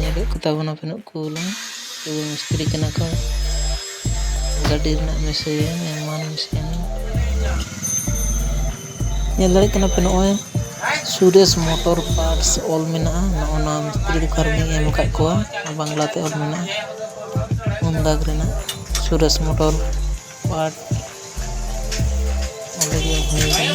ᱧᱮᱞᱮᱫ ᱠᱚ ᱛᱟᱵᱚᱱᱟ ᱯᱮᱱᱚᱜ ᱠᱩᱞᱟ ᱛᱚᱵᱮ ᱢᱤᱥᱛᱨᱤ ᱠᱟᱱᱟ ᱠᱚ ᱜᱟᱹᱰᱤ ᱨᱮᱱᱟᱜ ᱢᱤᱥᱨᱤᱭᱟ ᱮᱢᱟᱱ ᱢᱤᱥᱨᱤᱭᱟ ᱧᱮᱞ ᱫᱟᱲᱮᱭᱟᱜ ᱠᱟᱱᱟ ᱯᱮ ᱱᱚᱜᱼᱚᱭ ᱥᱩᱨᱮᱥ ᱢᱚᱴᱚᱨ ᱯᱟᱨᱴᱥ ᱚᱞ ᱢᱮᱱᱟᱜᱼᱟ ᱱᱚᱜᱼᱚ ᱱᱟ ᱢᱤᱥᱛᱨᱤ ᱫᱚᱠᱟᱱ ᱨᱮᱞᱤᱧ ᱮᱢ ᱟᱠᱟᱫ ᱠᱚᱣᱟ ᱟᱨ ᱵᱟᱝᱞᱟᱛᱮ ᱚᱞ ᱢᱮᱱᱟᱜᱼᱟ ᱩᱱᱫᱟᱜᱽ ᱨᱮᱱᱟᱜ ᱥᱩᱨᱮᱥ ᱢᱚᱴᱚᱨ ᱯᱟᱨᱴ ᱚᱸᱰᱮᱜᱮ ᱦᱩᱭ ᱠᱟᱱᱟ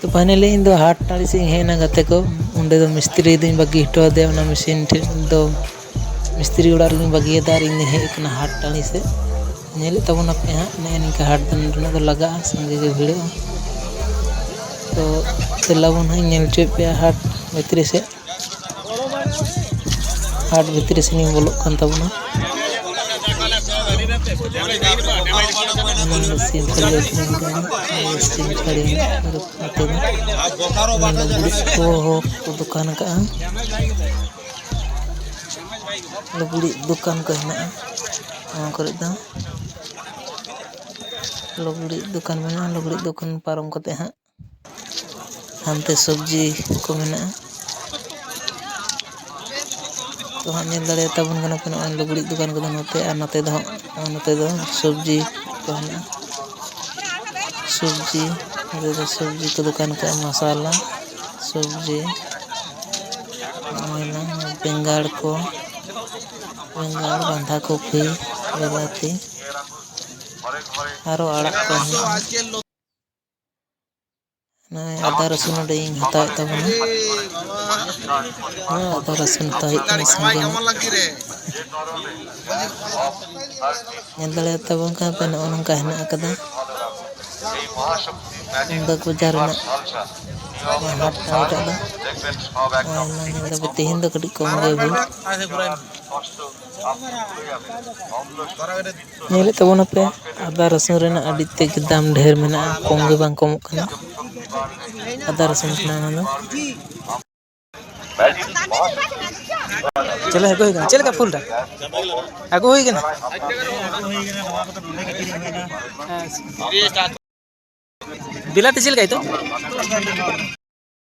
ᱛᱚ ᱯᱷᱟᱭᱱᱟᱞᱤ ᱤᱧ ᱫᱚ ᱦᱟᱴ ᱴᱟᱺᱰᱤ ᱥᱮᱫ ᱤᱧ ᱦᱮᱡ ᱮᱱᱟ ᱜᱟᱛᱮ ᱠᱚ ᱚᱸᱰᱮ ᱫᱚ ᱢᱤᱥᱛᱨᱤ ᱫᱚᱧ ᱵᱟᱹᱜᱤ ᱦᱚᱴᱚ ᱟᱫᱮᱭᱟ ᱚᱱᱟ ᱢᱮᱥᱤᱱ ᱴᱷᱮᱡ ᱫᱚ ᱢᱤᱥᱛᱨᱤ ᱚᱲᱟᱜ ᱨᱮᱜᱮᱧ ᱵᱟᱹᱜᱤᱭᱟᱫᱟ ᱟᱨ ᱤᱧ ᱫᱚᱧ ᱦᱮᱡ ᱟᱠᱟᱱᱟ ᱦᱟᱴ ᱴᱟᱺᱰᱤ ᱥᱮᱫ ᱧᱮᱞᱮᱫ ᱛᱟᱵᱚᱱᱟᱯᱮ ᱦᱟᱸᱜ ᱱᱮᱜᱼᱮ ᱱᱤᱝᱠᱟ ᱦᱟᱴ ᱫᱚ ᱱᱚᱸᱰᱮ ᱫᱚ ᱞᱟᱜᱟᱜᱼᱟ ᱥᱟᱸᱜᱮ ᱜᱮ ᱵᱷᱤᱲᱚᱜᱼᱟ ᱛᱚ ᱫᱮᱞᱟ ᱵᱚᱱ ᱦᱟᱸᱜ ᱤᱧ ᱧᱮᱞ ᱦᱚᱪᱚᱭᱮᱫ ᱯᱮᱭᱟ ᱦᱟᱴ ᱵᱷᱤᱛᱨᱤ ᱥᱮᱫ ᱦᱟᱴ ᱵᱷᱤᱛᱨᱤ ᱥᱮᱱᱤᱧ ᱵᱚᱞᱚᱜ ᱠᱟᱱ ᱛᱟᱵᱚᱱᱟ ᱥᱤᱢ ᱠᱷᱟᱹᱞᱤ ᱟᱹᱠᱷᱨᱤᱧ ᱠᱟᱱᱟ ᱥᱤᱢ ᱠᱷᱟᱹᱞᱤ ᱞᱩᱜᱽᱲᱤᱡ ᱠᱚ ᱠᱚ ᱫᱚᱠᱟᱱ ᱟᱠᱟᱫᱼᱟ ᱞᱩᱜᱽᱲᱤᱡ ᱫᱚᱠᱟᱱ ᱠᱚ ᱦᱮᱱᱟᱜᱼᱟ ᱱᱚᱣᱟ ᱠᱚᱨᱮ ᱫᱚ ᱞᱩᱜᱽᱲᱤᱡ ᱫᱚᱠᱟᱱ ᱢᱮᱱᱟᱜᱼᱟ ᱞᱩᱜᱽᱲᱤᱡ ᱫᱚᱠᱟᱱ ᱯᱟᱨᱚᱢ ᱠᱟᱛᱮᱫ ᱦᱟᱸᱜ ᱦᱟᱱᱛᱮ ᱥᱚᱵᱽᱡᱤ ᱠᱚ ᱢᱮᱱᱟᱜᱼᱟ ᱛᱚ ᱦᱟᱸᱜ ᱧᱮᱞ ᱫᱟᱲᱮᱭᱟ ᱛᱟᱵᱚᱱ ᱠᱟᱱᱟ ᱯᱮ ᱱᱚᱜᱼᱚᱭ ᱞᱩᱜᱽᱲᱤᱡ ᱫᱚᱠᱟᱱ ᱠᱚᱫᱚ ᱱᱚᱛᱮ ᱟᱨ ᱱᱚᱛᱮ ᱫᱚ ᱦᱟᱸᱜ ᱱᱚᱛᱮ ᱫᱚ ᱥᱚᱵᱽᱡᱤ ᱠᱚ ᱦᱮᱱᱟᱜᱼᱟ ᱥᱚᱵᱽᱡᱤ ᱱᱚᱛᱮ ᱫᱚ ᱥᱚᱵᱽᱡᱤ ᱠᱚ ᱫᱚᱠᱟᱱ ᱠᱟᱜᱼᱟ ᱢᱚᱥᱟᱞᱟ ᱥᱚᱵᱽᱡᱤ ᱦᱩᱭᱱᱟ ᱵᱮᱸᱜᱟᱲ ᱠᱚ ᱵᱮᱸᱜᱟᱲ ᱵᱟᱸᱫᱷᱟ ᱠᱚᱯᱤ ᱵᱤᱞᱟᱹᱛᱤ ᱟᱨᱚ ᱟᱲᱟᱜ ᱠᱚ ᱦᱮᱱᱟᱜᱼᱟ ᱱᱚᱜᱼᱚᱭ ᱟᱫᱟ ᱨᱟᱹᱥᱩᱱ ᱚᱸᱰᱮᱧ ᱦᱟᱛᱟᱣᱮᱫ ᱛᱟᱵᱚᱱᱟ ᱦᱮᱸ ᱟᱫᱟ ᱨᱟᱹᱥᱩᱱ ᱦᱟᱛᱟᱣ ᱦᱩᱭᱩᱜ ᱠᱟᱱᱟ ᱥᱟᱸᱜᱮ ᱧᱚᱜ ᱧᱮᱞ ᱫᱟᱲᱮᱭᱟ ᱛᱟᱵᱚᱱ ᱠᱟᱱ ᱯᱮ ᱱᱚᱜᱼᱚ ᱱᱚᱝᱠᱟ ᱦᱮᱱᱟᱜ ᱟᱠᱟᱫᱟ ᱵᱟᱹᱜᱽ ᱵᱟᱡᱟᱨ ᱨᱮᱱᱟᱜ ᱦᱟᱴ ᱠᱟᱱᱟ ᱮᱴᱟᱜ ᱫᱚ ᱟᱭᱢᱟ ᱧᱮᱞ ᱫᱟᱯᱮ ᱛᱮᱦᱮᱧ ᱫᱚ ᱠᱟᱹᱴᱤᱡ ᱠᱚᱢ ᱜᱮ ᱵᱷᱤᱲ ᱧᱮᱞᱮᱫ ᱛᱟᱵᱚᱱᱟᱯᱮ ᱟᱫᱟ ᱨᱟᱹᱥᱩᱱ ᱨᱮᱱᱟᱜ ᱟᱹᱰᱤ ᱛᱮᱫ ᱜᱮ ᱫᱟᱢ ᱰᱷᱮᱨ ᱢᱮᱱᱟᱜᱼᱟ ᱠᱚᱢ ᱜᱮ ᱵᱟᱝ ᱠᱚᱢᱚᱜ ᱠᱟᱱᱟ ᱟᱫᱟ ᱨᱟᱹᱥᱩᱱ ᱠᱟᱱᱟ ᱚᱱᱟ ᱫᱚ ᱪᱮᱞᱮ ᱟᱹᱜᱩ ᱦᱩᱭ ᱠᱟᱱᱟ ᱪᱮᱫ ᱞᱮᱠᱟ ᱯᱷᱩᱞ ᱫᱟ ᱟᱹᱜᱩ ᱦᱩᱭ ᱠᱟᱱᱟ ᱵᱤᱞᱟᱹᱛᱤ ᱪᱮᱫ ᱞᱮᱠᱟ ᱱᱤᱛᱚᱜ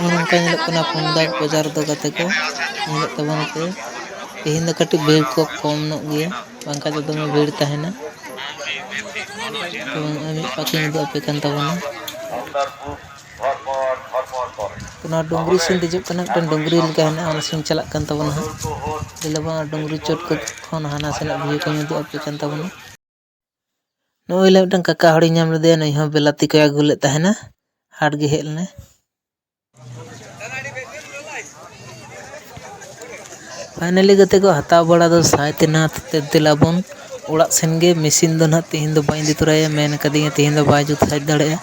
ᱱᱚᱝᱠᱟ ᱧᱮᱞᱚᱜ ᱠᱟᱱᱟ ᱯᱩᱱᱫᱟᱜ ᱵᱟᱡᱟᱨ ᱫᱚ ᱜᱟᱛᱮ ᱠᱚ ᱧᱮᱞᱚᱜ ᱛᱟᱵᱚᱱ ᱯᱮ ᱛᱮᱦᱮᱧ ᱫᱚ ᱠᱟᱹᱴᱤᱡ ᱵᱷᱤᱲ ᱠᱚ ᱠᱚᱢ ᱧᱚᱜ ᱜᱮᱭᱟ ᱵᱟᱝᱠᱷᱟᱱ ᱫᱚ ᱫᱚᱢᱮ ᱵᱷᱤᱲ ᱛᱟᱦᱮᱱᱟ ᱛᱚ ᱱᱚᱜᱼᱚᱭ ᱢᱤᱫ ᱯᱟᱠᱷᱤᱧ ᱩᱫᱩᱜ ᱟᱯᱮ ᱠᱟᱱ ᱛᱟᱵᱚᱱᱟ ᱚᱱᱟ ᱰᱩᱝᱨᱤ ᱥᱮᱫ ᱫᱮᱡᱚᱜ ᱠᱟᱱᱟ ᱢᱤᱫᱴᱟᱝ ᱰᱩᱝᱨᱤ ᱞᱮᱠᱟ ᱦᱮᱱᱟᱜᱼᱟ ᱚᱱᱟ ᱥᱮᱫ ᱪᱟᱞᱟᱜ ᱠᱟᱱ ᱛᱟᱵᱚᱱᱟ ᱦᱟᱸᱜ ᱞᱟᱹᱭ ᱫᱟᱵᱚᱱ ᱚᱱᱟ ᱰᱩᱝᱨᱤ ᱪᱚᱴ ᱠᱷᱚᱱ ᱦᱟᱱᱟ ᱥᱮᱱᱟᱜ ᱵᱷᱤᱭᱩ ᱠᱚᱧ ᱩᱫᱩᱜ ᱟᱯᱮ ᱠᱟᱱ ᱛᱟᱵᱚᱱᱟ ᱱᱚᱜᱼᱚᱭ ᱞᱮ ᱢᱤᱫᱴᱟᱝ ᱠᱟᱠᱟ ᱦᱚᱲᱤᱧ ᱧᱟᱢ ᱞᱮᱫᱮᱭᱟ ᱱᱩᱭ ᱦᱚᱸ ᱵᱤᱞᱟᱹᱛᱤ ᱠᱚᱭ ᱟᱹᱜᱩ ᱞᱮᱫ ᱛᱟᱦᱮᱱᱟ ᱦᱟᱴ ᱜᱮ ᱦᱮᱡ ᱞᱮᱱᱟᱭ ᱯᱷᱟᱭᱱᱮᱞᱤ ᱜᱟᱛᱮ ᱠᱚ ᱦᱟᱛᱟᱣ ᱵᱟᱲᱟ ᱫᱚ ᱥᱟᱭ ᱛᱮᱱᱟ ᱛᱮᱫ ᱫᱮᱞᱟᱵᱚᱱ ᱚᱲᱟᱜ ᱥᱮᱱ ᱜᱮ ᱢᱮᱹᱥᱤᱱ ᱫᱚ ᱦᱟᱸᱜ ᱛᱮᱦᱮᱧ ᱫᱚ ᱵᱟᱹᱧ ᱤᱫᱤ ᱛᱚᱨᱟᱭᱟ ᱢᱮᱱ ᱠᱟᱹᱫᱤᱧᱟ ᱛᱮᱦᱮᱧ ᱫᱚ ᱵᱟᱭ ᱡᱩᱛ ᱥᱟᱹᱦᱤᱡ ᱫᱟᱲᱮᱭᱟᱜᱼᱟ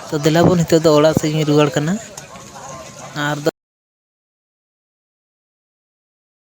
ᱛᱚ ᱫᱮᱞᱟᱵᱚᱱ ᱱᱤᱛᱚᱜ ᱫᱚ ᱚᱲᱟᱜ ᱥᱮᱫ ᱤᱧ ᱨᱩᱣᱟᱹᱲ ᱠᱟᱱᱟ ᱟᱨ